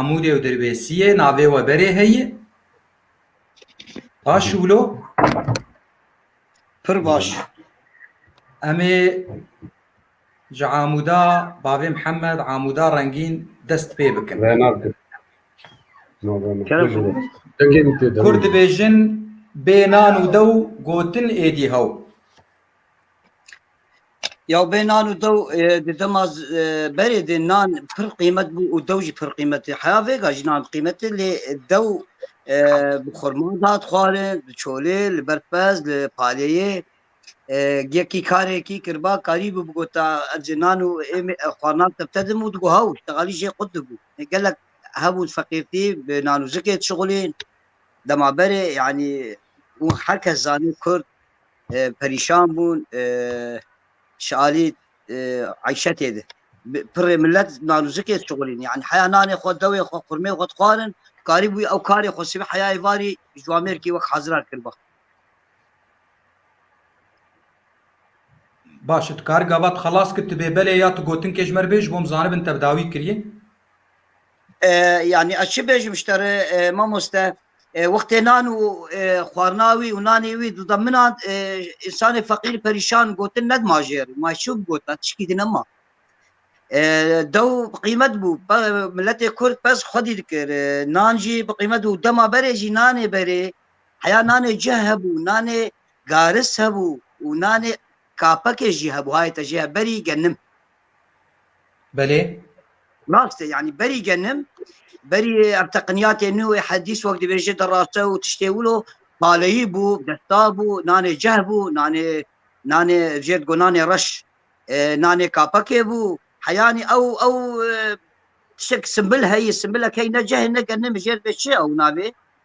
Amûrê û Dirbêsiyê navê we berê heye? Baş wilo? Pir baş. Emê ji Amûda bavê Mihemed Amûda Rengîn dest pê bikin. Ve nakin. Kurd dibêjin bê nan û dew gotin êdî hew. Ya bê nan û dew di dema berê de nan pir qîmet bû û dew jî pir qîmetê heya vêga jî nan qîmetê lê dew bi xurma dat xwarin bi çolê li ber pez li paleyê yekî karekî kirba karî bû bigota ezê nan û êmê xwarnan tepte dim û digu hew teqalî jê qut dibû gelek hebû feqîrtî bi nan û zikê şixulîn dema berê yanî û herkes zanî kurd perîşan bûn ji alî eyşetê de pirê millet nanûzikê çixurîn yani heya nanê xwe dewê xwe qurmê xwe dixwarin karî bûî ew karê xwe sivî heyayê varî ji Amerîkî wek hezirar kir ba. Baş tu kar gava tu xelas kir tu bê belê ya tu gotinkê ji mer bê ji bo em zanibin te bi dawî kiriye. Yani ez çi bêjim ji te re mamoste Wextê nan û xwarina wî û nanê wî dida min a, însanê feqîr perîşan gotin nedima jê re. Ma çi bigotin, tişkî din nema. Dew bi qîmet bû. Miletê Kurd pez xwedî dikir. Nan jî bi qîmet bû. Dema berê jî nanê berê. Heya nanê cih hebû, nanê garis hebû û nanê kapekê jî hebû. Hayê te jê ya berî genim. Belê. Rast e yanî berî genim berî ev teqiniyatê nû ê hedîs wek dibêje di raste û tiştê wilo paleyî bû, desta bû, nanê ceh bû, nanê nanê jêr digo nanê reş e, nanê kapekê bû. Heyanî ew ew e, tişek simbil heye, simbilek heye ne cehê ne genim jêr bê çi ew navê.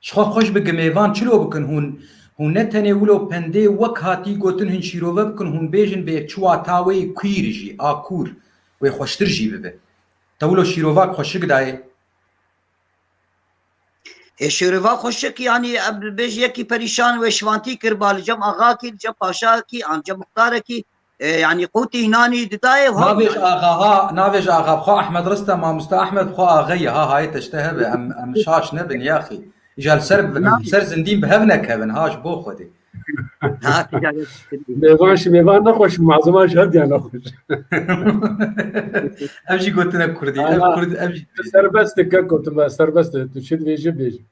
Ji xwe xweş bi gimêvan çilo bikin hûn hûn ne tenê wilo pendê wek hatî gotin hûn şîrove bikin hûn bêjin bê çi wata wê queer jî a kûr wê xweştir jî bibe. Te wilo şîrova ki xweşik dayê? Ê şîrova xweşik yanî em bêj yekî perîşan wê şivantî kir ba li cem axa kî li cem paşa kî an cem muxtare kî Yanî qûtî înanî didayê û Navê ji axa ha navê ji axa bi xwe Ahmed Rista Mamoste Ahmed bi xwe axe ye ha hayê te ji te hebe em em şaş nebin yaxî îja li ser bi li ser zindîn bi hev nekevin ha ji bo Xwedê. Mêvan ji mêvan nexweş û maziman ji hev diyan nexweş. Ev jî gotine kurdî ev Ana. kurd ev jî serbest dike gotibe serbest tu çi dibêjî bêjî.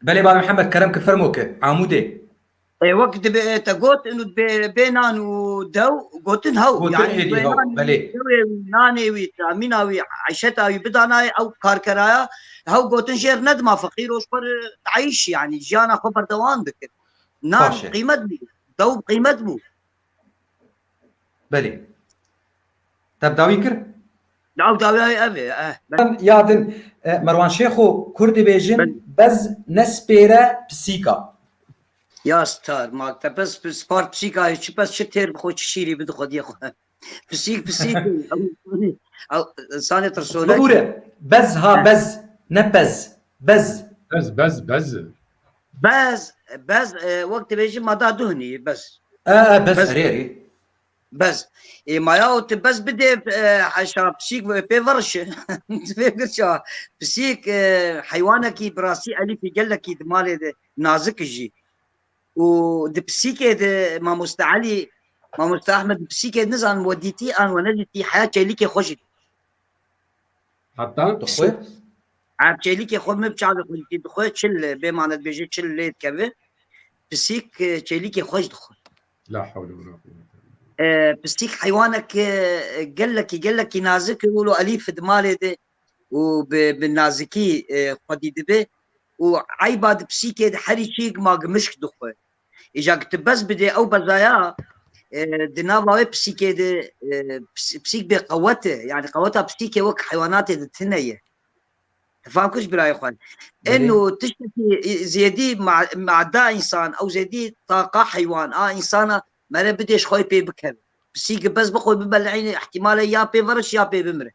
Belê Babi Mihemed kerem ki fermo ki Amûdê. E wek dibe te got inu bê bê nan û dew gotin hew Gotin yani hêdî bê hew, nan belê. dewê wî nanê wî tamîna wî eşeta wî bidanayê ew karkeraya hew gotin jêr nedima feqîr o ji xwe re dayîş yani jiyana xwe berdewam dikir nan Baş e. qîmet bû dew qîmet bû Belê. Te bi dawî kir? Nav dawiyayê ev ê. Eh, ben. Ya din, e, Merwan Şêxo Kurd dibêjin Ben. bez nespêre pisîka. Ya star, ma te pes pis spar pisîka hê, çi pes çi têr bi xwe, çi şîrî bi di xwe diye xwe. Pisîk pisîk. ew- ew- Sanê tirsonek. Bibûre. Bez ha bez. Ne pez. Bez. Bez bez bez. Bez, bez e, wek dibêjî ma da duhnî bez. E, e, bez erê erê. Bez. E maya û tu bez bidê e, heşa pisîk ve pê verişi. Divê girça pisîk e, heywanekî bi rastî elîfî gelekî di malê de nazik jî. Û di pisîkê de Mamoste Elî, Mamoste Ahmed di pisîkê nizanim we dîtî an we nedîtî heya çêlîkê xwe jî Heta tu xwe Ev çêlîkê xwe min bi çavê xwe dîtî dixwe çil bê mane dibêje çil lê dikevi. Pisîk çêlîkê xwe ji dixwe. La hewle wala quwwete. Pisîk heywanek gelekî gelekî nazik û lo elîf di malê de û bi bi nazikî xwedî dibe û eyba di pisîkê de herî çîk ma gimişk dixwe. Îja ku tu bez bidê ew bezaya di nava wê pisîkê de pisîk bê qewet e. Yani qeweta pisîkê wek heywanatê de tune ye. Fam kiriş birayê xwe. Eno tiştekî zêdî mada însan ew zêdî taqa heywan a însana mere bidê ji xwe pê bikeve. Pisîkê bez bi xwe bibeleyne îhtîmale ya pê veriş ya pê bimire.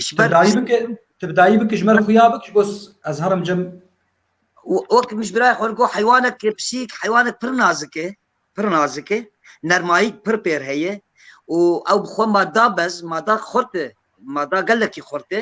Ji ber dayî bike, tu bi dayî bike ji ber xuya bike ji bo ez herim cem. Wek min ji birayê xwe got heywanek pisîk heywanek pir nazik e, pir nazik e, nermayîk pir pêr heye û ew bi xwe ma da bez, ma da xurt e, ma da gelekî xurt e.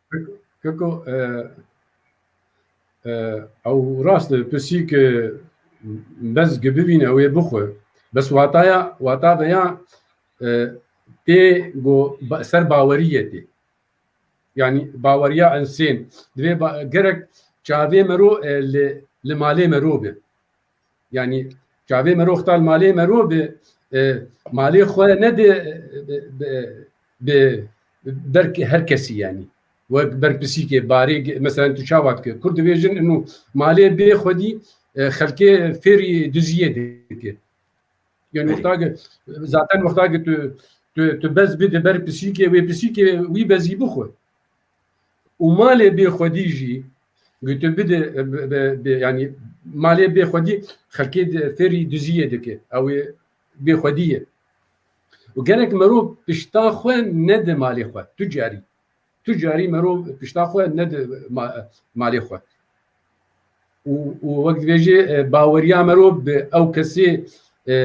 Keko ew rast e pisîk bez ki bivîne ew ê bixwe. Bes wataya wata veya tê go ser bawerî ye tê. Yani baweriya insên divê gerek çavê mero li malê mero be. Yani çavê merov tal malê merov bi e, malê xwe ne bi bi ber her kesî yani wek ber pisîkê barê mesela tu çawa dike kur dibêjin inu malê bê xwedî e, xelkê fêrî diziyê dike yani wexta zaten wexta tu tu tu bez bi di ber pisîkê wê pisîkê wî bezî bixwe û malê bê xwedî jî gotin bide yanî malê bê xwedî xelkê fêrî duziyê dike ew ê bê xwedî ye û gerek merov pişta xwe nede malê xwe tu carî tu carî merov pişta xwe nede malê xwe û û wek dibêjê e, baweriya merov bi ew kesê e,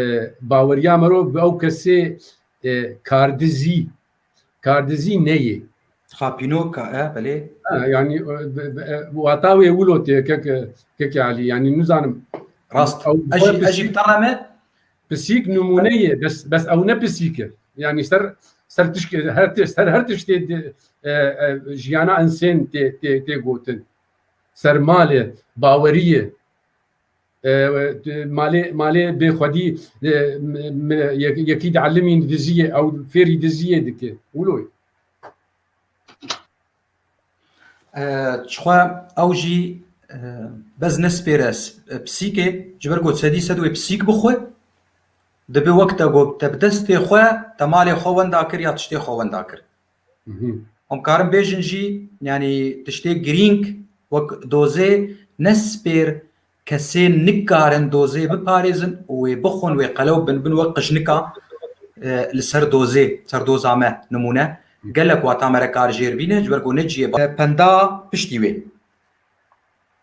baweriya merov bi ew kesê e, kardizî Kardizî neyê. Xapînoka e belê. Yanî wata wê wilo tê keke Elî yanî nizanim. Rast ez jî tana me pisîk nimûneyê bes bes ew ne pisîk e. Yanî ser ser tişkê her tê ser her tiştê jiyana insên tê tê tê gotin. Ser malê, baweriyê, malê malê bê xwedî yekî diellimî diziyê ew fêrî diziyê dike wilo çixwe ew jî bez nespêre pisîkê ji ber ku sedî sed wê pisîk bixwe dibe wek te got te bi destê xwe te malê xwe wenda kir ya tiştê xwe wenda kir Hûn karin bêjin jî yanî tiştê girîng wek dozê ne spêr kesê nikarin dozê biparêzin û wê bixwin wê qelew bin bin wek qijnika li ser dozê ser doza me nimûne gelek wata me re kar jêr bîne ji ber ku ne ciyê penda piştî wê.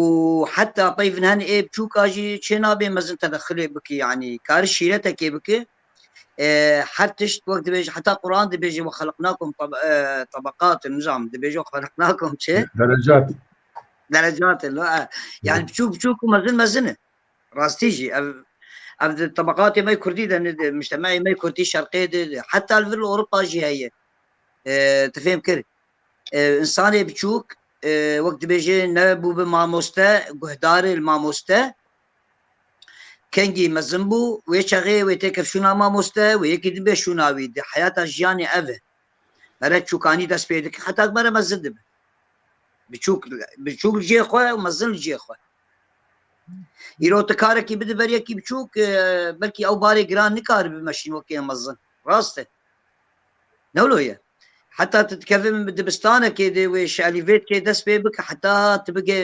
û heta pey vinhen ê biçûka jî çênabê mezin tedexulê bike yanî kari şîretekê bike her tişt wek dibêje heta Quran dibêje we xeliq nakim tebeqatin nizam dibêje xeliq nakim çi derecat derecatin lo yani biçûk biçûk û mezin mezine rastî jî ev ev di tebeqatê me Kurdî de ne de muştemeyê me Kurdî şerqê de heta li vir li Ewropa jî heye tu fêm kir Însanê biçûk wek dibêjê ne bû bi mamoste, guhdarê li mamoste. Kengî mezin bû, wê çaxê wê têkir şûna mamoste, wê yekî dibe şûna wî. Di heyata jiyanê ev e. Mere çûkanî dest pê dike, heta ku mere mezin dibe. Biçûk biçûk li cihê xwe û mezin li cihê xwe. Îro tu karekî bidi ber yekî biçûk belkî ew barê giran nikaribe meşîn wekî mezin. Rast e. Newlo ye. Heta tu dikevê min bi dibistanekê dê wê şelîvêtkê dest pê bike heta tu bigê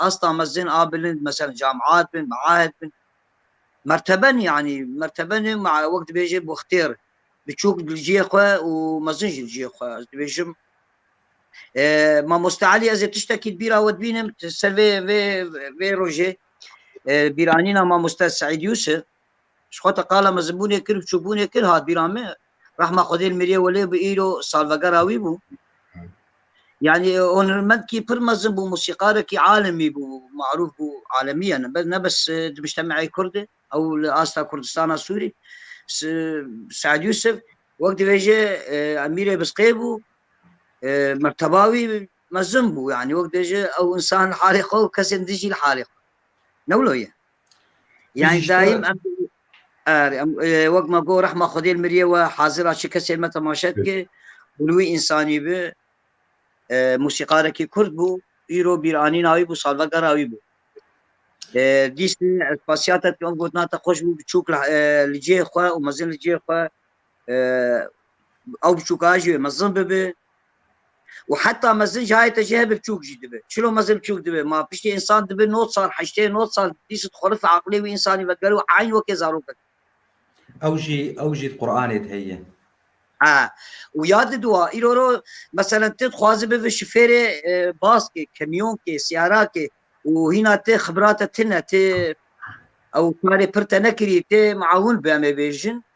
asta mezin a bilind mesela camiat bin maahed bin merteben yanî merteben wek dibêjê boxtêr biçûk li ciyê xwe û mezin ji li ciyê xwe ez dibêjim mamoste Elî ez ê tiştekî bîra we dibînim ser vê vê vê rojê bîranîna mamoste Seîd Yusuf Ji xwe te qala mezinbûnê kir û çûbûnê kir hat bîra me. Rehma Xwedê li Miriyê Welê bi îro salvegera wî bû. Yani e, onermenkî pir mezin bû, musîkarekî alemî bû, marûf bû alemî yani be- ne bes e, di mujtemeyê kurd e, ew li asta Kurdistana Sûrî. S- Seid Yusuf wek dibêje e, emîrê Bizqê bû, e, merteba wî mezin bû yani wek dibêje ew insan li halê xwe û kesên dijî li halê xwe. Ne wilo ye. Yani daim wek ma go rehma Xwedê li miriyê we hazira çi kesê me temaşe dike û li wî însanî bi musîqarekî kurd bû îro bîranîna wî bû salvegera wî bû. Dîsê ez pasiyate em gotina te xweş bû biçûk li cihê xwe û mezin li cihê xwe ew biçûka jî mezin bibe û heta mezin ji hayê te jî hebe biçûk jî dibe. Çilo mezin biçûk dibe ma piştî însan dibe no sal heştê no sal dîsit xurif aqilê wî însanî vegere û eyn wekê zarok e. Ew jî ew jî di Qur'anê de heye. Ha û ya di dua îro ro meselen tu dixwazi bibe şifêrê e, baskê, kemyonkê, sîyarakê û hîna ti xibrate tune ti ew karê pir te nekirî ti miawin bi em ê bêjin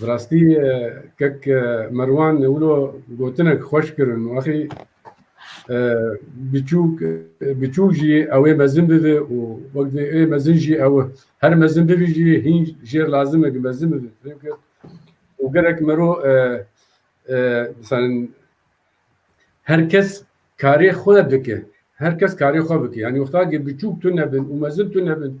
Bi rastî kek Merwan wilo gotinek xweş kirin wexî biçûk biçûk jî ew ê mezin bibe û wek vê ê mezin jî ew her mezin bibî jî hîn jêr lazim e ki mezin bibe. Çünkü û gerek mero misalin her kes karê xwe dike. Her kes karê xwe bike. Yani wexta ki biçûk tune bin û mezin tune bin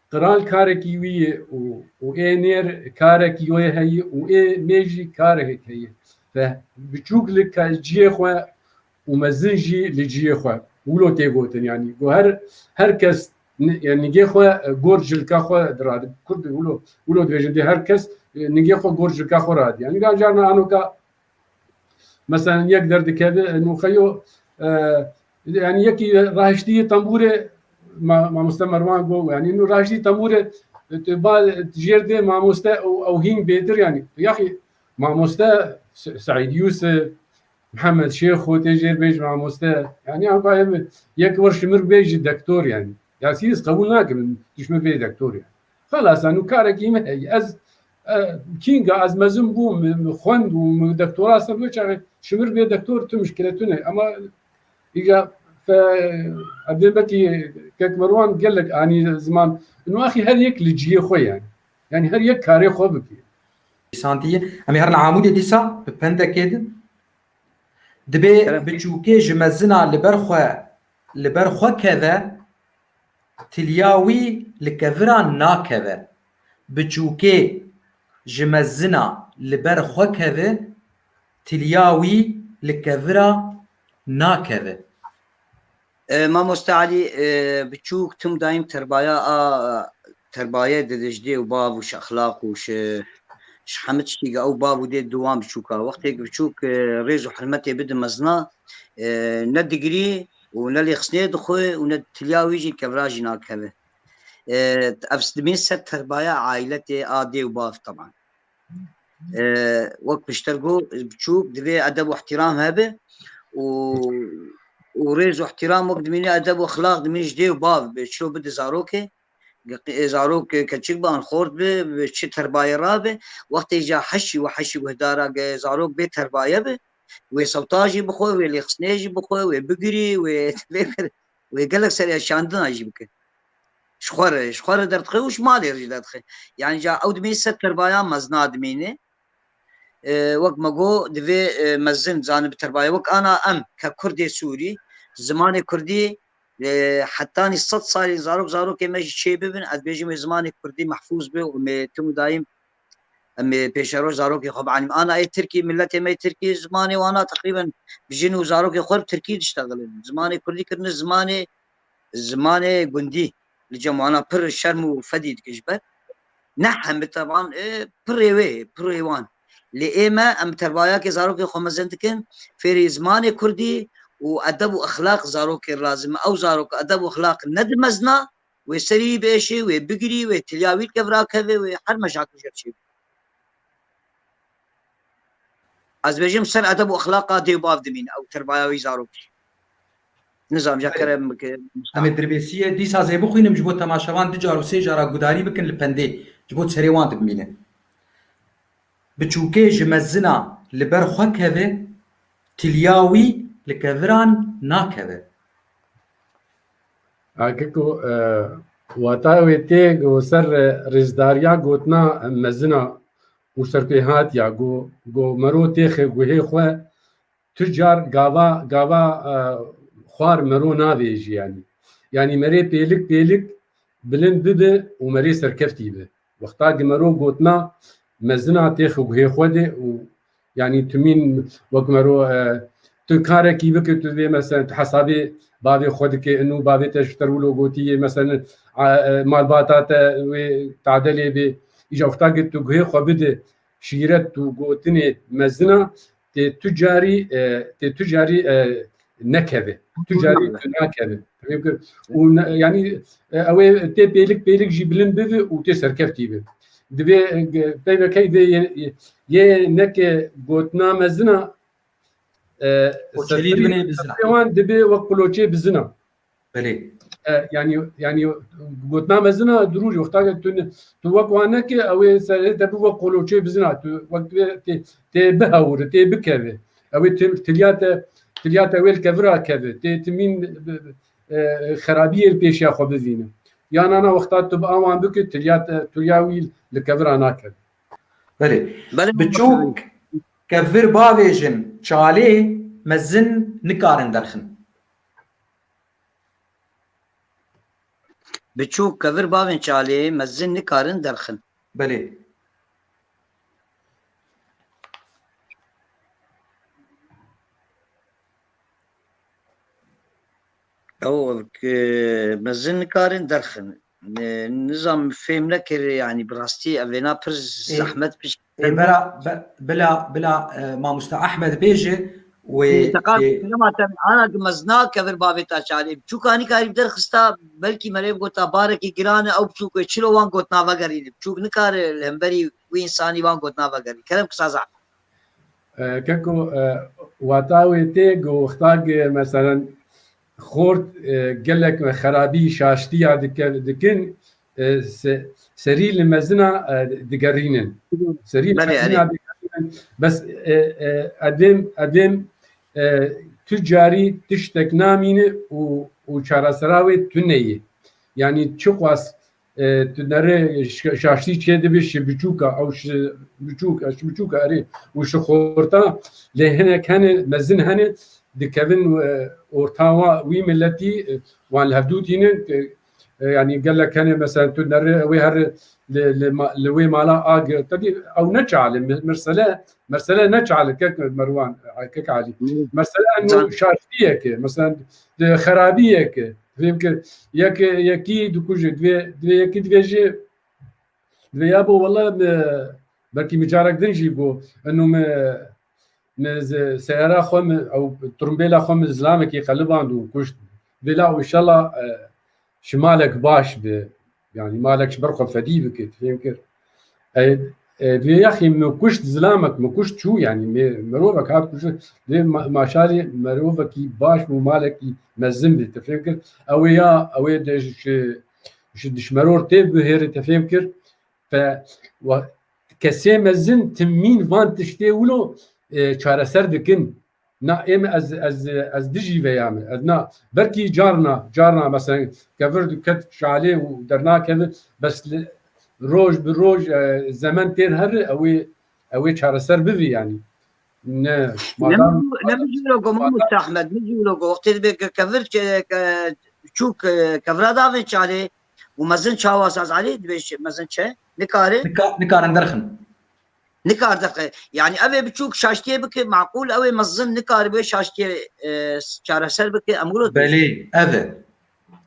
Qral karekî wî ye û ê nêr karekî wê heye û ê nê jî karekek heye. Te biçûk li ciyê xwe û mezin jî li ciyê xwe. Wilo tê gotin yanî ku her her kes nigê xwe gor cilka xwe diradin. Kurd wilo wilo dibêjin dê her kes nigê xwe gor cilka xwe radin. Yanî carna anoka Meselen yek derdikeve nûxeyo yani yekî rahiştiyê tembûrê mamoste Merwan got yani nû rahiştiyê tembûrê tu ba jêr dê mamoste û ew hîn bêtir yani yaxî mamoste Seîd Yûsif Mihemed Şêxo tê jêr bêj mamoste yani ew ba ev yek wir şimir bê ji dektor yani ya sî ez qebûl nakim tu ji min bê dektor yani xelas nû karekî min heye ez Kînga ez mezin bûm, xwend û dektora ser wê çaxê şimir bê dektor tu mişkile tu ne. Ema îja evdê betî kekmerwan gelek anî ziman. Ino axî her yek li ciyê xwe ye. Yani her yek karê xwe bikê. Santiye. Em ê herin Amûdê dîsa bi pendekê din. Dibê biçûkê ji mezina li ber xwe li ber xwe keve Tilya wî li keviran nakeve. Biçûkê ji mezina li ber xwe keve, tilya wî li kevira nakeve. Mamoste Elî biçûk tim dayîm terbaya a terbaye di dijdê û bav û şexlaq û şi şi heme tiştî ge ew bav û dê di wan biçûka. Wextê ku biçûk rêz û hirmetê bidin mezina ne digirî û ne lê xisnê dixwe û ne tiliya wî jî kevra jî nakeve. Ev sedimîn ser terbaya aîletê a dê û bav teman. Wek pişter got biçûk divê edeb û îhtîram hebe û û rêz û îhtîram wek dimîne edeb û ixlaq dimîne ji dê û bav bi çilo bide zarokê zarok keçik bi an xort bi çi terbayê rabe wextê ca heşî û heşî guhdara ge zarok bê terbaye bi wê sewta jî bixwe wê lêxistinê jî bixwe wê bigirî wê vê kir wê gelek serê şandina jî bike ji xwe re ji xwe re derdixê û ji malê re jî derdixê yani ca ew dimî ser terbaya mezna dimînê wek me got divê mezin zanî bi terbaya wek ana em ke kurdê sûrî zimanê kurdî hetanî sed salî zarok zarokê me jî çê bibin ez bêjim wê zimanê kurdî mehfûz bi û me tim û dayîm Em ê pêşeroj zarokê xwe bianîm. Ana ê Tirkî, miletê me yê Tirkî zimanê wan a teqrîben jin û zarokê xwe bi Tirkî diştexilin. Zimanê Kurdî kirine zimanê zimanê gundî. Li cem wana pir şerm û fedî dikin ji ber. Ne hembi teban pirê wê ye, pirê wan. Lê ê me em bi terbayakê zarokê xwe mezin dikin fêrî zimanê Kurdî û edeb û exlaq zarokê lazim e. Ew zarok edeb û exlaq nedi mezna Wê serî bieşê, wê bigirî, wê tilya wî dike virakeve, wê her meşakil jê çê bî. Ez bêjim ser edeb û exlaqa dê û bav dimîne ew terbaya wî zarokî. Nizam ja kerem bike. Em ê dirbêsiyê dîsa zê bixwînim ji bo temaşevan du car û sê cara gudarî bikin li pendê ji bo serê wan dibimîne. Bi çûkê ji mezina li ber xwe keve, tilya wî li keviran nakeve. Akiko wata wê tê ku ser rêzdariya gotina mezina û serpêhatiya ku mero tê guhê xwe tu car gava gava xwar mero navêjî yanî yanî merê pêlik pêlik bilind bibe û merê serkeftî be. Wexta ke mero gotina mezina tê xiguhê xwe de û yanî tu mîn wek mero tu karekî bike tu vê mesen tu hesabê bavê xwe dike inû bavê te ji ter wilo gotiye mesen malbata te wê tade lê bê îja wexta ke tu guhê xwe bide Şîret û gotinê mezin a, tê tu carî tê tu carî nekeve. Tu carî tu nakeve. Û yanî ew ê tê pêlik pêlik jî bilind bibi û tê serkeftî bi. Divê peyvekey vê yê neke gotina mezin a wan dibê wek quloçê bizin a. Belê. Yani yani gotina mezina durûrî wexta ke tu tu wek wan neke ew ê serê te bi wek qoloçê bizina tu wek tê tê bihewiri tê bikevê ew ê tilya te tilya te wê li kevira kevê tê timîn xerabiyê li pêşiya xwe bivîne ya nana wexta tu bi awan bikir tilya te tilya wî li kevira nakevê Belê Belê bi çok kevir bavêjin çalê mezin nikarin derxin Biçûk, kevir bavên çalê, mezin nikarin derxin. Belê. Ew, mezin nikarin derxin. Nizam fêm nekir yani bi rastî ev vêna pir zehmet bi. Ê bera bila bila mamoste Ahmed bêje wê ana ki mez nakevir bavê ta çarê biçûka nikarî bi derxista belkî merê gota barekî giran e ew biçûk wê çilo wan got navegerîne biçûk nikare li hemberî wî însanî wan got navegerî kerem kisa zehmet. Keko wata wê tê ku wexta ki meselen Xort gelek xerabî şaştiya dikin serî li mezina digerînin. Serî li mezina digerînin bes edêm edêm tu carî tiştek namîni û çaresera wê tuneyê. Yanî çiqas Tu nere şaştî çê dibî şi biçûka ew şi biçûka şi biçûka erê û şi xorta lê hinek hene mezin hene dikevin ortawa wî miletî wan li hevdû tînin yanî gelek hene mesela tu nere wê her li wê mala ag tedî ew ne çali mersele mersele ne çali kek merwan kek alî mersele şaştiyeke mesela xerabî yeke divê bike yeke yekî dikuje divê divê yekî divê jî divê ya bo wela me belkî min carek din jî bo eno me me seyara xwe min ew trumbêla xwe min zilamekî qeliband û kuşt vêla û inşallah Ji malek baş bi yanî malek ji ber xwe fedî bike fêm kir. Duyê yaxî min kuşt zilamek min kuşt çû yanî me mirovek hat kuşt dê maşalê mirovekî baş bû malekî mezin bê te fêm kir ew ê ya ew ê de ji dişmeror tê bihêrê te fêm kir te kesê mezin timîn van tiştê wilo çareser dikin. Na ême ez ez ez dijî veya me. Ez na belkî carna carna meselen kevir diket çalê û dernakeve bes roj bi roj zemen têr herri ewê ewê çareser bivî yanî. Ne madam Nemijîro go Mahmud Ahmed mijîro go wextê dibe ke kevir çûk kevira davê çalê û mezin çawa sazalê dibe mezin çe nikare nikarin derxin. Nikar daqe. Yani evê biçûk şaştiyê bike maqûl ewê mezin nikaribe şaştiyê e, çareser bike emûrot. Belê ev e.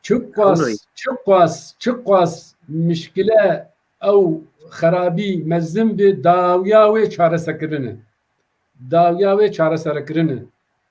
Çiqas, Anladım. çiqas, çiqas müşkile ew xerabî mezin bi dawiya wê çaresekirine. Dawiya wê çareserekirine.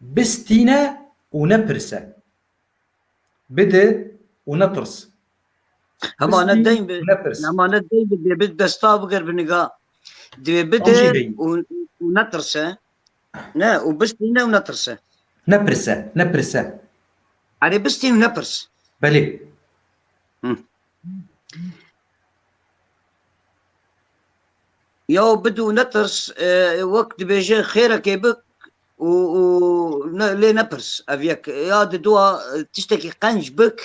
Bistîne û nepirse. Bide û nepirs. Hema ne deyn bi hema ne deyn bi dê bi desta bigir bi niga. Divê bide û netirse. Ne û bistîne û netirse. Nepirse, nepirse. Erê bistîn û nepirs. Belê. Yaw bid û netirs wek dibêjin xêrekê bik û û lê nepirs ev yek ya di dua tiştekî qenc bik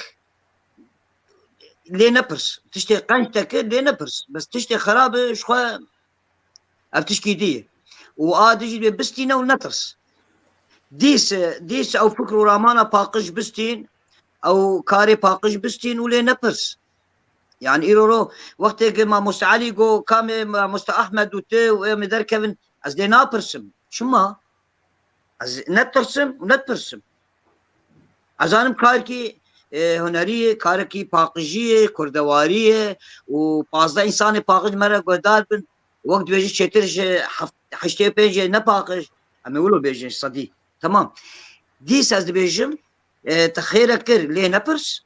lê nepirs tiştê qenc te kir lê nepirs bes tiştê xerab e ji xwe ev tişkî dî ye û a dijî dê bistîne û netirs dîse dîse ew fikr û ramana paqij bistîn ew karê paqij bistîn û lê nepirs Yani îro ro wextê ke Mamoste Elî got kamê Mamoste Ahmed û ti û em ê derkevin ez dê napirsim. Çima? Ez netirsim û netpirsim. Ez zanim karkî hunerî ye, karekî paqijî ye, kurdewarî ye û pazdeh însanê paqij me re guhdar bin. Wek dibê jî çêtir ji heştê û pêncê ne paqij. Em ê wilo bêjin sedî. Temam. Dîs ez dibêjim te xêrek kir lê nepirs.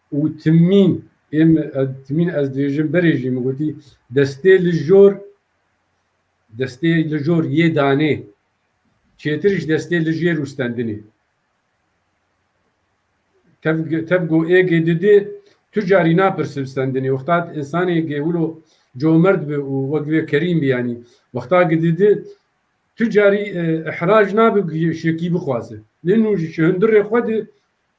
û timîn ê min timîn ez dibêjim berê jî min gotî destê li jor destê li jor yê danê çêtir ji destê li jêr û stendinê tev tev go ê gê didê tu carî napirsim stendinê wexta insanê gê wilo comerd bi û wek vê kerîm bi yanî wexta gididi tu carî ihraj nabi şekî bixwaze lê nû ji hundirê xwe di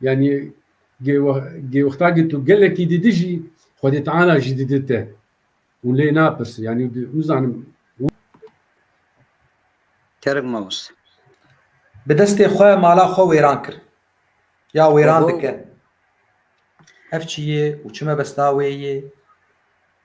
Yani gêwexta ki tu gelekî didi jî Xwedê Teala ji didi te û lê napirsî yani nizanim Kerek Mavus bi destê xwe mala xwe wêran kir ya wêran dikin. Ev çi yê û çi mebesta wê yê?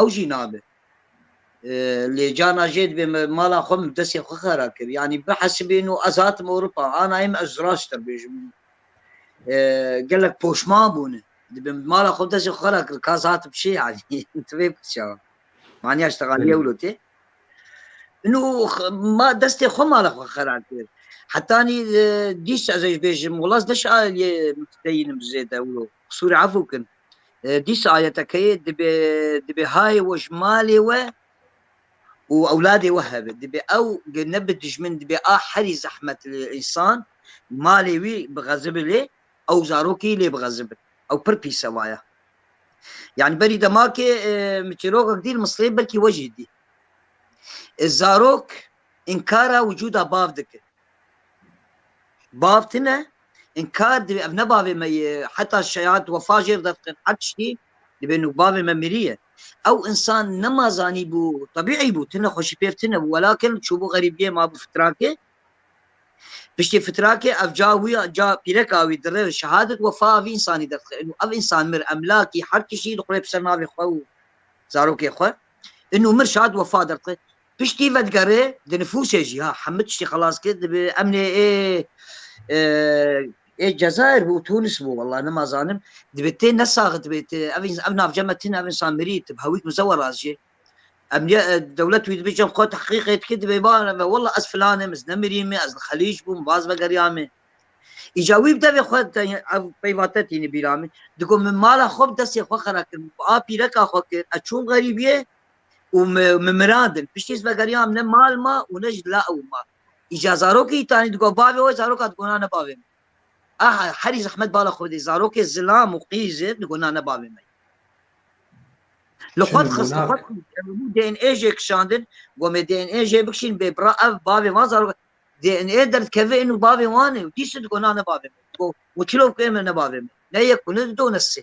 ew jî nabe. Lê carna jê dibê me mala xwe min bi destê xwe xera kir. Yanî bihesibîn û ez hatim Ewropa. Ana em ez rast dibêjim. Gelek poşman bûne. Dibim bi mala xwe bi destê xwe xera kir. Ka ez hatim şê yanî. Tu vê biçe. Maniya ştegalî ewlo tê. Nû ma destê xwe mala xwe xera kir. Hetanî dîs ez ê ji bêjim wila ez neşa lê mutedeyînim zêde ewlo. Qisûrê efû kin. Dîsa ayetekeyê dibê dibê hayê we ji malê we û ewladê we hebe. Dibê ew ne bi dijmin dibê a herî zehmet li însan malê wî bixezibi lê ew zarokî lê bixezibin. Ew pir pîs e vaya. Yani berî demakê min çîrokek dî li Misleyê belkî we jî dî. Zarok înkara wicûda bav dikin. Bav tine in kar divê ev ne bavê me ye heta şehat wefa jêr derxin her tiştî divê nû bavê me mirîye ew insan nema zanîbû tebîî bû tine xweşî pêv tine bû welakin çûbû xerîbiyê mabû fitrakê piştî fitrakê ev ca wî ca pîreka wî dire şehadet wefa vî insanî derxin û ev insan mir emlakî her tiştî dixure bi ser navê xwe û zarokê xwe in û mir şehat wefa derxin Piştî vedigerê di nifûsê jî ha hemû tiştî xelas kir dibe emnê ê ê Cezayir bû û Tûnis bû wela nima zanim dibe tê nesaxit be tê ev îns ev navce me tune ev însan mirî tib hewîk mize wela jî emnîye dewlet wî dibe cem xwe tehqîqê dike dibe ba ve wela ez filan im ez ne mirî me ez li xelîc bûm baz vegeriya me îca wî bi devê xwe te ev peyva te tîne bîra min digo min mala xwe bi destê xwe xera kir min bi a pîreka xwe kir ez çûm xerîbiyê û min mirandin. Piştî ez vegeriya em ne mal ma û ne ji la ew ma. Îca zarokê îtanî digot bavê we zaroka digot na ne bavê min. Aha herî zehmet bala xwe dê zarokê zilam û qîz e digot na ne bavê min. Li xwe dixist li xwe dixist DNA jê kişandin got me DNA jê bikişîn bê bira ev bavê van zarok DNA derdikeve êno bavê wan e û dîs digot na ne bavê min. Digot we çirof kê min ne bavê min. Ne yek û ne du ne sê.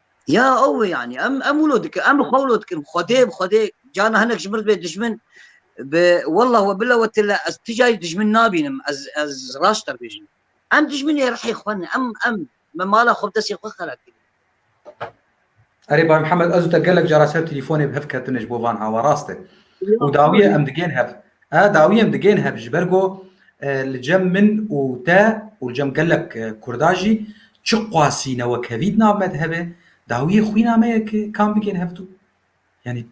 Ya ew yani em em wilo dikin em xwe wilo dikin xwedê bi xwedê cana hinek ji mir dibê dijmin bi wallah we bila we tila ez ti jayî dijmin nabînim ez ez raşt dibêjim em dijminê rihê xwe ne em em me mala xwe bi destê xwe xera kirî Erê Bay Mihemed ez û te gelek cara ser telîfonê bi hev ketine ji bo van hava rast e û dawiyê em digên hev A dawiyên digên hev ji ber ku li cem min û te û li cem gelek Kurda jî çi qasî newekhevî di nav me de hebe, dawiyê xwîna me ye ki kam bigên hev dû. Yanî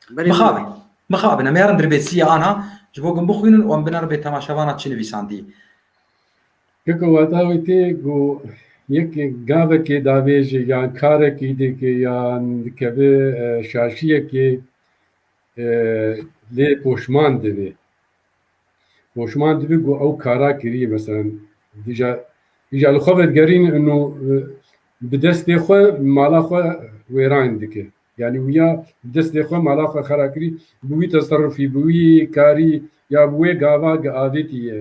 mixabin, mixabin em ê herin dirbêsiyê anha ji bo gum bixwînin û em bine ribê temaşevana çi nivîsandiyê. Keko wata wî tê ku yekê gavekê davêjê yan karekî dike yan dikeve şaşiyekê lê poşman divê. Poşman divê ku ew kara kiriye mesela dija dija li xwe vedigerîn û bi destê xwe mala xwe wêran dike. Yani wiya bi destê xwe mala xwe xera kirî bi wî teserrufî bi wî karî ya bi wê gava avêtî ye.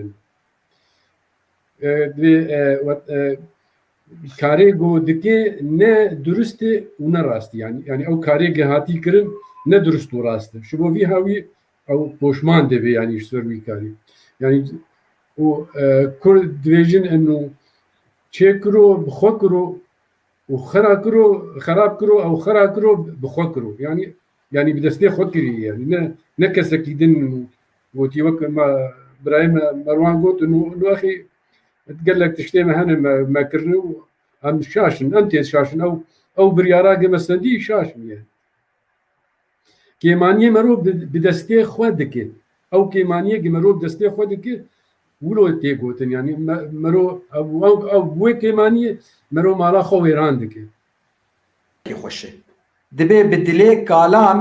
karê ku dike ne durist e û ne rast e. Yanî yanî ew karê ke hatî kirin ne durist û rast e. Ji bo vî hawî ew poşman dibe yanî ji ser wî karî. Yanî û kurd dibêjin enû çê kiro bi xwe kiro û xera kiro xerab kiro ew xera kiro bi xwe kiro. Yanî yanî bi destê xwe kirî yanî ne ne kesekî din Gotî wek me birayê me Merwan got nuaxî gelek tiştê me hene me me kirine û em şaşin em têz şaşin ew ew biryara ke me sendî şaş bûye. Kêmaniyê merov bi destê xwe dike. Ew kêmaniyê ke merov destê xwe dike wilo tê gotin yanî merov ew wê kêmaniyê merov mala xwe wêran dike. Kê xweş e. Dibe bi dilê kalan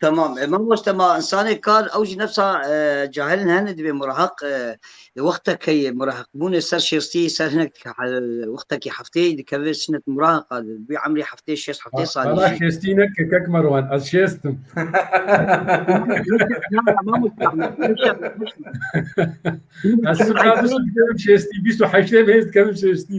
Tamam. Mam wasta ma insanê kar ew jî nefsa cahil hene divê murahaq li wextekeyê murahaqbûnê ser şêstî ser hinek wextekî hefteyê dikeve sinet murahaqa bi emrî heftê şêst heftê salî. Bala şêstî ne kekek merwan ez şêstim. Ez şêstî bîst û heştê mêz dikevim şêstî.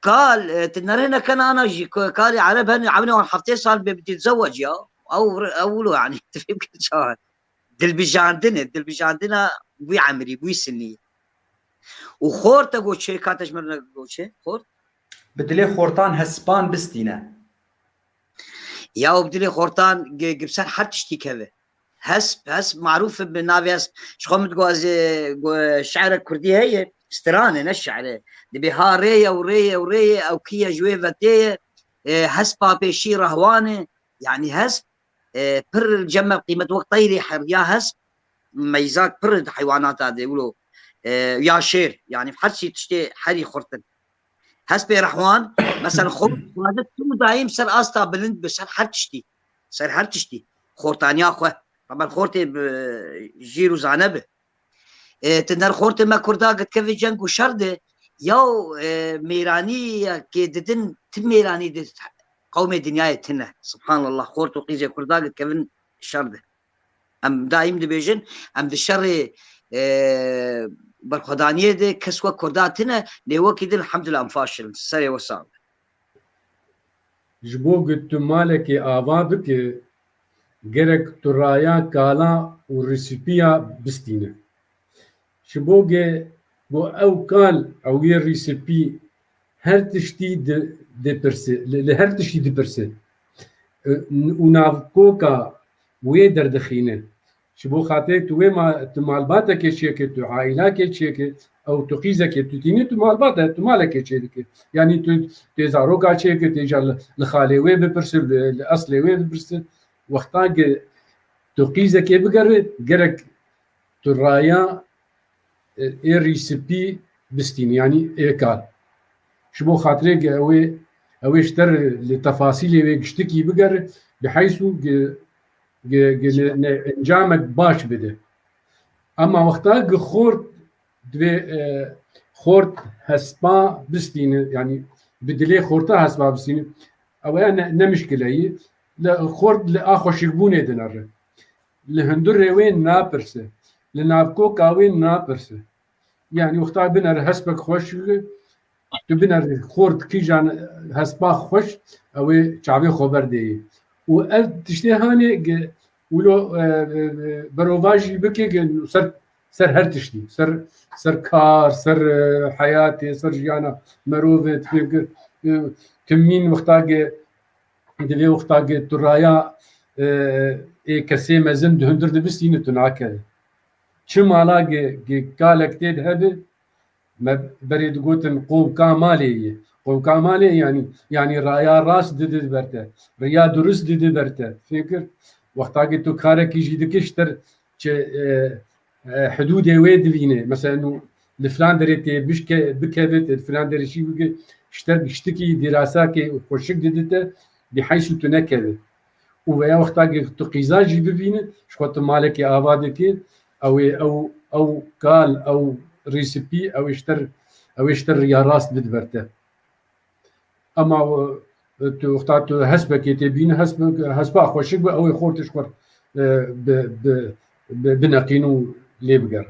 Kal, ti nerêne kenana jî ku kalê ereb hene ewnê wan heftê sal bê bi têtzeweç ya. Ew ew wilo yanî tu fêm kir çawa ye. Dilbijandin e, dilbijandina wî emrî, wî sinî ye. Û xort e goçê, kate ji min re goçê, xort. Bi dilê xortan hesipan bistîne. Ya û bi dilê xortan gi bi ser her tiştî keve. Hesp, hesp marûf e bi navê hesp. Ji xwe min dixwazê şi'rek kurdî heye, stran e ne şi'r e. Dibê ha rê ye û rê ye û rê ye ew kî ye ji wê ve tê ye. Hespa pêşî rahwan e. Yanî hesp pir ceme qîmet wek teyrê her ya hesp meyzak pir e di heywanata de wilo ya şêr yanî her çî tiştê herî xurt in. Hespê rahwan mesel xwe dixwaze tu dayîm ser asta bilind bi ser her tiştî. ser her tiştî xortaniya xwe hemen xortê bi jîr û zane bi ti der xortê me kurda gitkevê ceng û şer de yaw mêranî kê didin ti mêranî di qewmê dinyayê tine subhanallah xort û qîzê kurda gitkevin şer de em daîm dibêjin em di şerê berxwedaniyê de kes we kurda tine lê wekî din hemdullah em faşilin serê we sağ Ji bo ku tu malekê ava bike gerek tu raya kala û rîsîpiya bistîne. Ji bo ku ew kal ew yê rîsîpî her tiştî li her tiştî dipirse û navkoka wê derdixîne. Ji bo xatirê tu wê ma tu malbatekê çêkir, tu aîlakê çêkir, ew tu qîzekê tu tînî tu malbat e, tu malekê çêdikir. Yanî tu tê zaroka çêkir, tê ca li xalê wê bipirsir, li eslê wê bipirsir. Wextan ki tu qîzekê bigerî gerek tu raya êrî sipî bistînî yanî êkal. Ji bo xatirê ki ew ê ew ê ji te re li tefasîlê wê giştikî bigerî, biheysu ki encamek baş bide. Ema wexta ku xort divê xort hespa bistîne yanî bi dilê xorta hespa bistîne ew e ne ne muşkile yî. Li xort li a xweşikbûnê dinere. Li hundirê wê napirse. Li navkoka wê napirse. Yani wexta biner hespek xweş tu biner xort kîjan hespa xweş ewê çavê xwe berdêyê û ev tiştê hanê wilo e, e, berovajî bikê ser ser her tiştî ser ser kar ser e, heyatê ser jiyana merovê timîn wextagê divê wextagê tu raya ê kesê mezin di hundir dibistîne tu nakeve Çi mala kalek tê de hebe me berê digotin qowka malê ye. Qowka malê yanî yanî raya rast dide ber te. Riya durist dide ber te. Fêm kir? Wextakî tu karekî jî dikî ji tir çi hidûdê wê divînê. Mesela nû li filan derê tê bişke bikeve tê li filan derê jî bike ji tir ji tikî dîrasakê xweşik dide te bî heys û tu nekeve. û veya wexta ki tu qîza jî bibîne ji xwe tu malekê ava dike ew ê ew ew kal ew rîsipî ew ê ji te ew ê ji te riya rast bid ber te ema tu wexta tu hespekê tê bîne hesp hespa xweşik bi ew ê xor tu ji xwe bi bi bineqîn û lê biger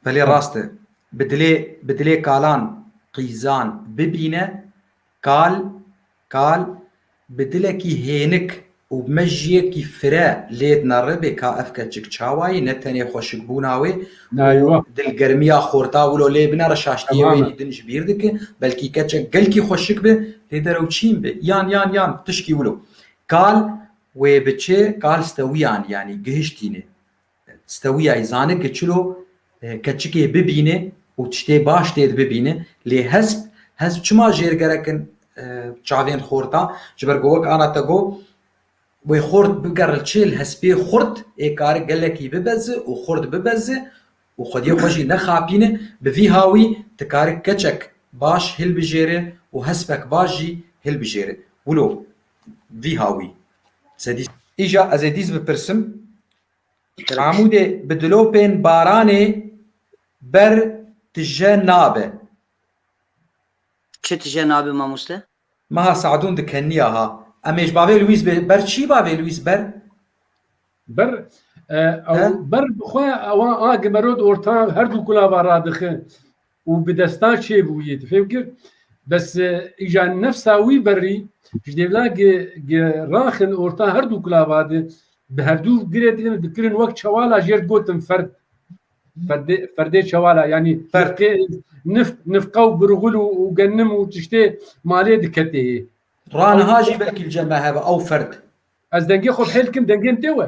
Belê rast e. Bi dilê bi dilê kalan qîzan bibîne Kal, kal, bi dilekî hênik û bi mejiyekî fire lê dineribe ka ev keçik çawa ye, ne tenê xweşikbûna wê û dilgermiya xorta wilo lê binere şaştiyê wê yî din ji bîr dike, belkî keçek gelkî xweşik be lê derewçîn be, yan, yan, yan, tişkî wilo. Kal, wê biçe, kal stewîyan, yanî gihiştîne. Stewiyayî zanî ku çilo keçikê bibîne û tiştê baş tê di bibîne. Lê hesp, hesp çima jêr gerek in çavên xorta? Ji ber ku wek ana te got, wê xort bike reçel hespê xort ê kare gelekî bibeze û xort bibeze û xwediyê xwe jî nexapîne. Bi vî hawî ti kare keçek baş hilbijêre û hespek baş jî hilbijêre. Wilo Vî ha wî. Îja ez ê dîs bipirsim. Amûdê bi dilopên baranê ber tije nabe. Çi tije nabe mamoste? Meha Se'dûn di keniya ha. Emêj bavê Luîs bê ber çî bavê Luîs ber? Ber ew ber bi xwe ewa a gimerod orta her du kulava radixin. û bi desta çêbûyê difêmkir bes îja nefsa wî berrî ji dêvla gi gi raxin orta her dû kulava di bi hevdû girê dilin dikirin wek çewala jêr digotin ferd ferdê ferdê çewala yanî ferqê nif nifqa û birxul û û gennim û tiştê malê diketê yê. Raniha jî vekîlce me hebe ew ferd. Ez dengê xwe bi hêl dikim dengên tê we.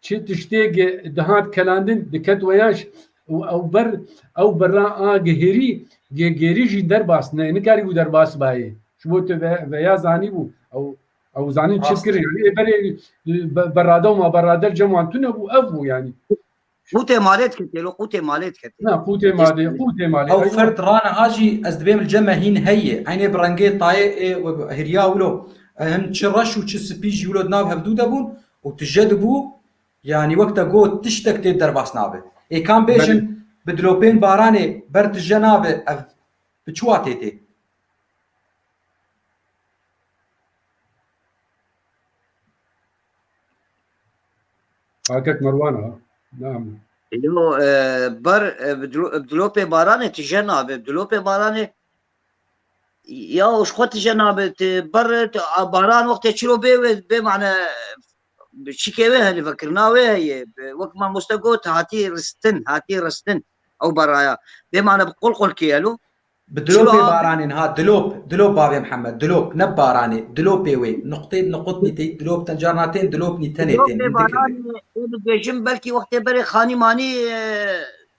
Çi tiştêk dihat kelandin diket weyaş û ew ber ew berra a gihêrî yê gêrî jî derbas ne nikarîbû derbas bayê. Ji bo tu ve veya zanîbû ew ew zanîn çi kir yanî ê berê berra dewma berra der cem wan tune bû ev bû yanî. Qûtê malê diketê lo qûtê malê diketê. Na qûtê malê qûtê malê. Ew fert rane a jî ez dibêm li ceme hîn heye eynê bi rengê tayê ê hêriya wilo hin çi reş û çi spî jî wilo di nav hevdû de bûn Û tije dibû, yanî wek te got tiştek tê derbas nabe. Ê kam bêjin bi dilopên baranê ber tije nabe ev bi çi watê tê? Kakek Merwan a, ne em. Yo, ber bi dilopê baranê tije nabe. Bi dilopê baranê Ya ji xwe tije nabe tu ber tu baran wextê çiro bê wê bê mane şikê wê heye vekirina wê heye wek mamoste got hatî ristin hatî ristin ew beraya bê mane bi qol qol kêye lo Bi dilopê baranên ha dilop dilop bavê Mihemed dilop ne baranê dilopê wê nuqtê nuqutnî tê dilop ten carna tên dilopnî tenê tên bêjin belkî wextê berê xanî manî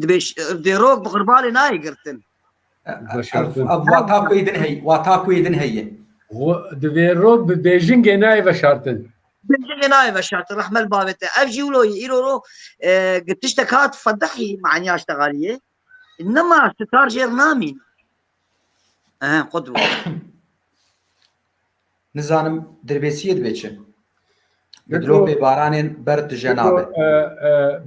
Dibê dêrok bi qurbanê nayê girtin. Ev wata ku êdin heye. Wata ku êdin heye. Divê rok bi bêjingê nayê veşartin. Bêjingê nayê veşartin rehmel bavê te. Ev jî wilo yî îro ro tiştek hat fedehî maniya ştegaliyê. Nima star jêr namîn. Ehe qut Nizanim dirbêsiyê dibe çi? Bi dilopê baranên ber tije nabe.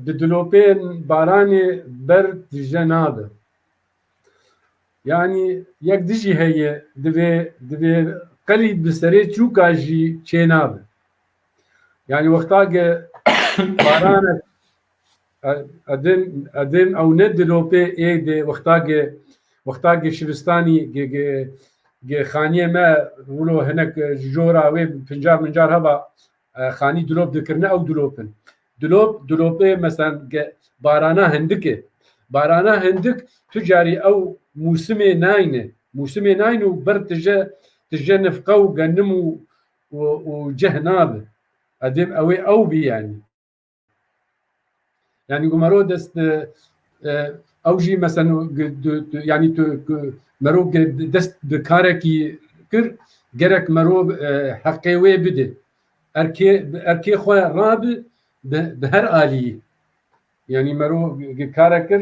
Bi dilopên baranê ber tije nabe. Yanî yek dijî heye divê divê qelî bi serê çûka jî çênabe. Yanî wexta ke baranek Edên ew ne dilopê ê dê wextagê wextagê şivistanî gê xaniyê me wilo hinek ji jora wê pincar mincar heba xanî dilop dikirine ew dilop in. Dilop dilopê mesen ge barana hindikê. Barana hindik tu carî ew mûsimê nayne. Mûsimê nayne û ber tije tije nifqe û genim û û cih nabe. Edên ewê ew bî yanî. Yani ku mero dest ew jî mesen yani tu mero dest bi karekî kir gerek mero heqê wê bide. Erkê erkê xwe rabi bi her aliyî. Yani mero kare kir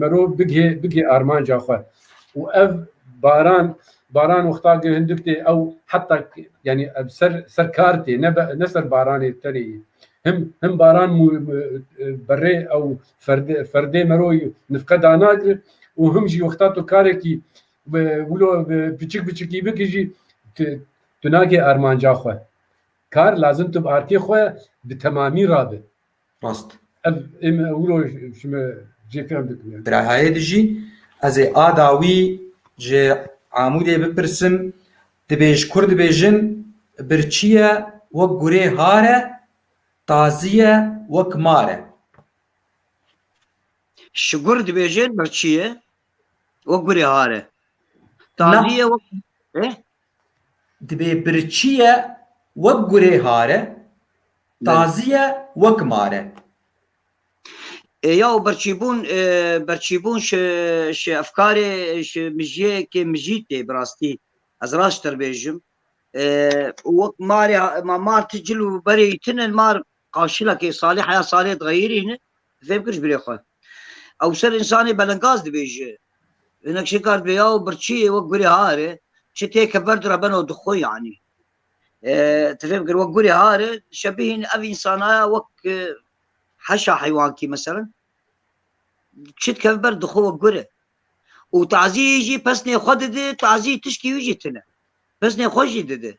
Merov bigê bigê armanca xwe û ev baran baran wexta ki hindik tê ew heta yanî ev ser ser kar tê ne ne ser baranê tenê yî. Him him baran berê ew ferdê ferdê meroyî nifqe danagir û him jî wexta tu karekî wilo piçik piçikî bikî jî tu nakê armanca xwe. Kar lazim tu bi arkê xwe bi temamî rabi. Rast. Ez ê min ewro ji me cêkirin bikim. Birayê dijî ez ê a dawî ji Amûdê bipirsim dibêj kur dibêjin birçî ye wek gurê har e tazî ye wek mar e. Ji gur dibêjin birçî ye wek gurê har e tazî ye wek Dibê birçî ye wek gurê hare, tazî ye wek mare. Yaw birçîbûn birçîbûn şi şi efkarê şi mijiyekê mijî tê bi rastî ez raştir bêjim wek marê ma mar ti cil û berê îtin in mar Qaşila kê salê heya salê diğeyirî ne fêm kir ji birê xwe. Ewser însanê belengaz dibêje. Hinek şêkar dibê ya û birçiyê wek gurê hare çi tê ke ver dira beno di xwe yanî. Ti fêm kir wek gurê hare şebihîn ev însanaya wek heşa heywankî meselen çi dikeve ber di xwe wek gure. Û tazî jî pesnê xwe dide tazî tişkî wî jî tune. Pesnê xwe jî dide.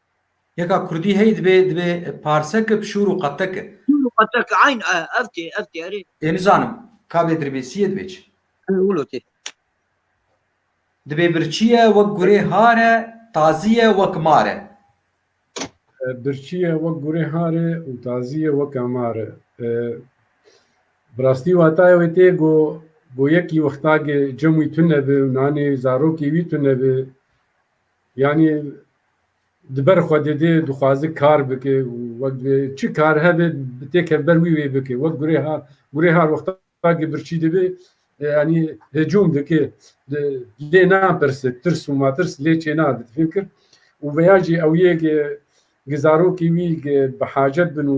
Yeka kurdî heyî dibê dibê parsek ib şûr û qetek e. Şûr û qetek e eyn e ev tê ev tê erê. Ê nizanim ka bê dirbêsî ye dibê çi. Ew wilo tê. Dibê birçî ye wek gurê har e tazî ye wek mar e. Birçî ye wek gurê har e û tazî ye weka mar e. Bi rastî wataya wê tê go go yekî wextagê cem wî tune bi û nanê zarokê wî tune bi. Yanî di ber Xwedê dê dixwaze kar bike û wek divê çi kar hebe bi têkeve ber wî wê bike. Wek gurê ha gurê har wexta ki birçî dibê yanî hicûm dike lê napirse tirs û matirs lê çênade di fikir û veya jî ew yê ki ki zarokê wî ki bi hacet bin û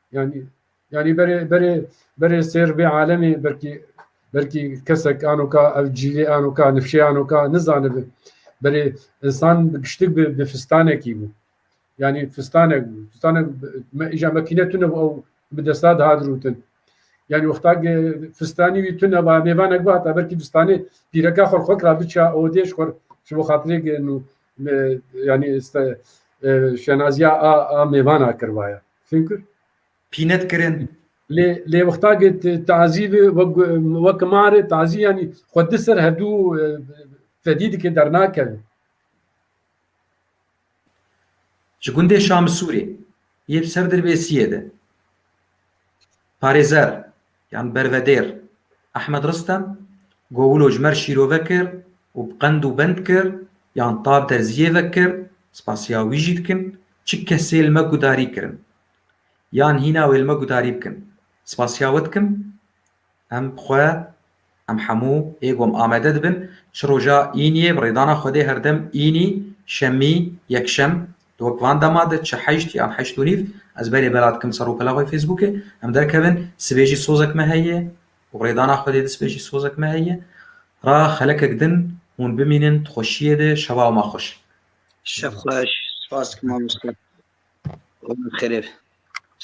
Yani yani berê berê berê sêr bê alemê belkî belkî kesek anoka ev cîlê anoka nifşê anoka nizanibin berê insan bi giştik bi bi fistanekî bû yani fistanek bû fistanek me îja mekîne tune bû ew bi desta dihat rûtin yani wexta ge fistanî wî tune ba mêvanek ba heta belkî fistanê pîreka xwe xwe kira biça odêj xwe ji bo xatirê ge nû yani şenaziya a a mêvana kirvaya Çünkü pînet kirin lê lê wextagê tazî bi wek marê tazî yanî xwe di ser hevdû fedî dike dernakeve. Ji gundê Şamisûrê yê bi ser Dirbêsiyê de parêzer yan bervedêr Ehmed Ristem Gowilo ji me re şîrove kir û bi qend û bend kir yan tab derziyê ve kir, spasiya wî jî dikim, çi kesê li me gudarî kirin yan hîna wê li me gudarî bikin, spasiya we dikim, em bi xwe Em hemû ê gom amade dibin çi roja Îniyê bi rêdana Xwedê her dem Înî, Şemî, Yekşem di wek van dema de çi heşt yan heşt û nîv ez berê bela dikim ser rûpela xwe Fêsbûkê em derkevin sibê jî sozek me heye û bi rêdana Xwedê di sibê jî sozek me heye ra xelekek din hûn bimînin di xweşiyê de şeva wema xweş. Şevxweş, spas dikim mamoste. Xwedê bi xêrê be.